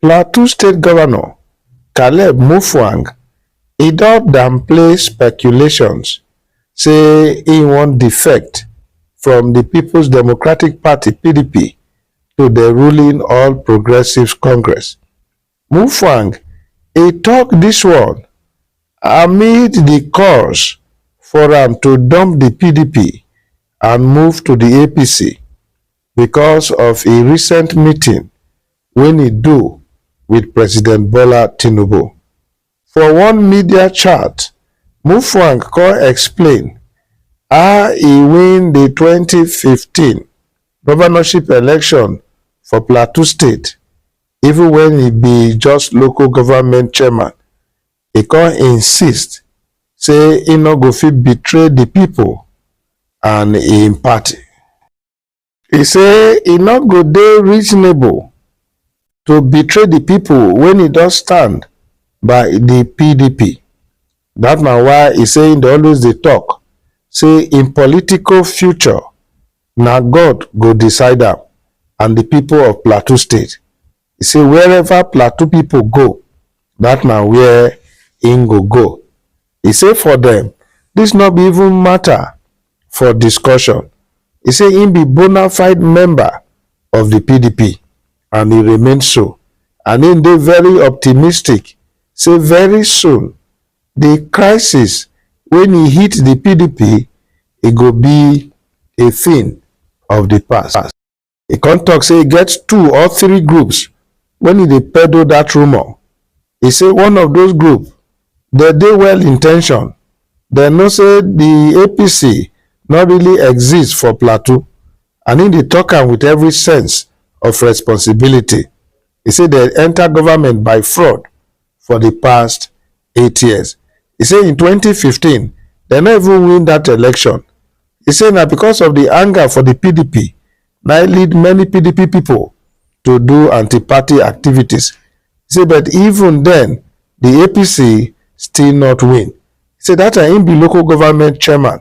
Plateau State Governor Caleb Mutfwang e don downplay speculations say e wan defect from di Peoples Democratic Party, pdp, to di ruling All Progressives Congress. Mutfwang e tok dis one amid di calls for am to dump di pdp and move to di APC. because of a recent meeting wen e do wit President Bola Tinubu. For one media chat, Mutfwang come explain how e win di twenty fifteen governorship election for Plateau State even wen e be just local government chairman, e come insist say e no go fit betray di pipo and im party. He say e no go dey reasonable to betray the people when e don stand by the PDP. That na why he say he dey always dey talk say im political future na God go decide am and the people of Plateau State e say wherever plateau pipo go dat na wia im go go e say for dem dis no be even mata for discussion e say im be bona fide member of di pdp and e remain so and im dey very optimistic say very soon di crisis wey e hit di pdp e go be a tin of di past. e come talk say e get two or three groups when e dey peddle that rumor. E say one of those group they dey well intention, they know say the APC no really exist for Plateau and im dey talk am with every sense of responsibility. E say they enter government by fraud for di past eight years e say in 2015 dem no even win dat election e say na because of di anger for di pdp na im lead many pdp pipo to do anti-party activities e say but even den di apc still not win e say dat time im be local government chairman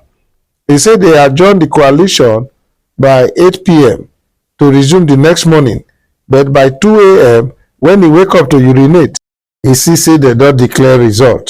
e say dey adjourn di coalition by 8pm to resume di next morning but by two am wen e wake up to urinate e see say dem don declare result.